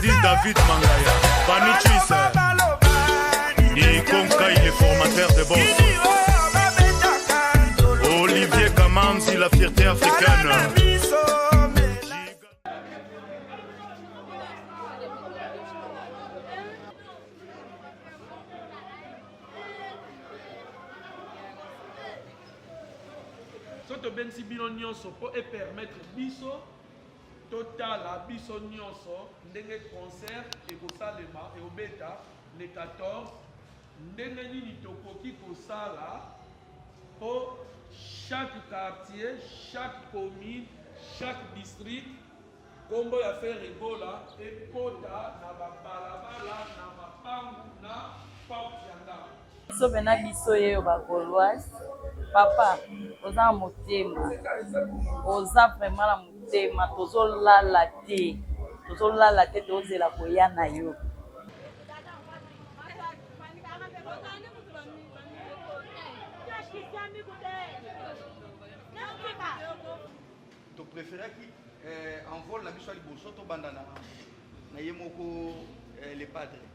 Dit David Mangaya, Panichis, dit Konkai, les formateurs de boss. Olivier Kamanzi, la fierté africaine. soki tobengisi bino nyonso mpo epermettre biso Totala biso nyonso ndenge concert ekosalema, eobeta le 14, ndenge nini tokoki kosala mpo chaque quartier, chaque commune, chaque district nkombo ya Ferre Gola ekota na babalabala, na mapangu, na porte ya ndako. Biso pena biso yeyo ba goloise papa oza na motema oza vraiment na motema tozolala te tozolala te tozela koya na yo to préféraki eh, envol na biso ya liboso tobanda na na ye moko eh, le padre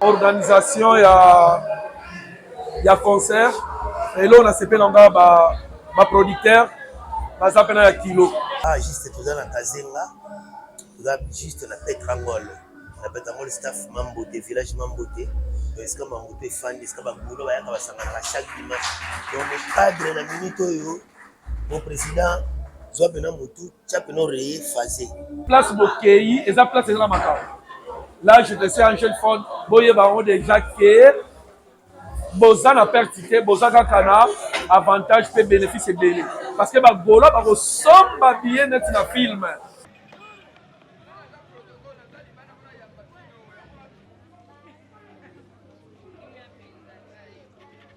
organisation ya ya concert elo nasepela nga ba, ba producteur baza mpena ya kilo ah, juste toza na kazenga toza juste na petrangol na petrangol staff mambote village mambote esika mambote efandi esika babulo bayaka basanganaka chaque dimanche donc cadre na minute oyo mon président zwa mpena motu Chape no reye faze. Place bokeyi eza place eza na makambo. Là je te sais en jeune fond boyeba yango déjà que boza na perte te boza kaka na avantage mpe bénéfice ebele parce que bagola bakosomba biye neti na film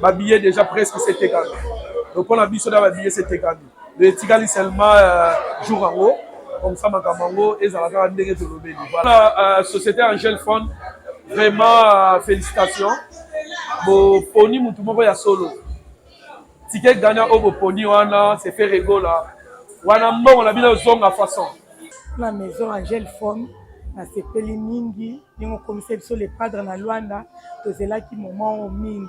ba billets déjà presque c'est tekami donc pona biso da ba billets c'est tekami mais etikali seulement euh, jour yango comme ça makambo yango ezala kaka ndenge tolobeli voilà euh, société angel fond vraiment euh, félicitations boponi motu moko ya solo Ticket Ghana oyo boponi wana c'est Ferre Gola. Wana mbongo na bino ezonga façon. Na maison Angel Fon nasepeli mingi ndenge okomisa biso le padre na Luanda tozelaki moment oyo mingi.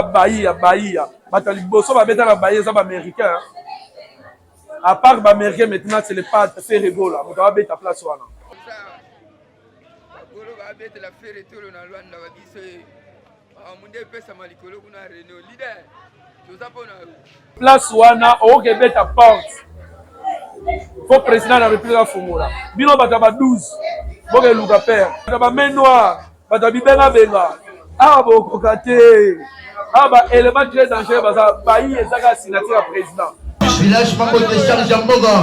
Bahia, Bahia. Bata liboso babeta na Bahia eza ba américain. À part ba américain maintenant c'est le pas c'est Regola. Moto abeta place wana. Golo babeta la ferre tolo na Luanda ba biso. Ah, munde epesama likolo kuna reno leader toza mpo na yo place wana okoki ebeta porte fo président na république afungola bino bato ya ba 12 boke eluka père bato ya ba main noire bato ya bibengabenga awa bokoka te awa ba élément très dangereux baza bayi ezaka signature ya président village moko te charge ya mboka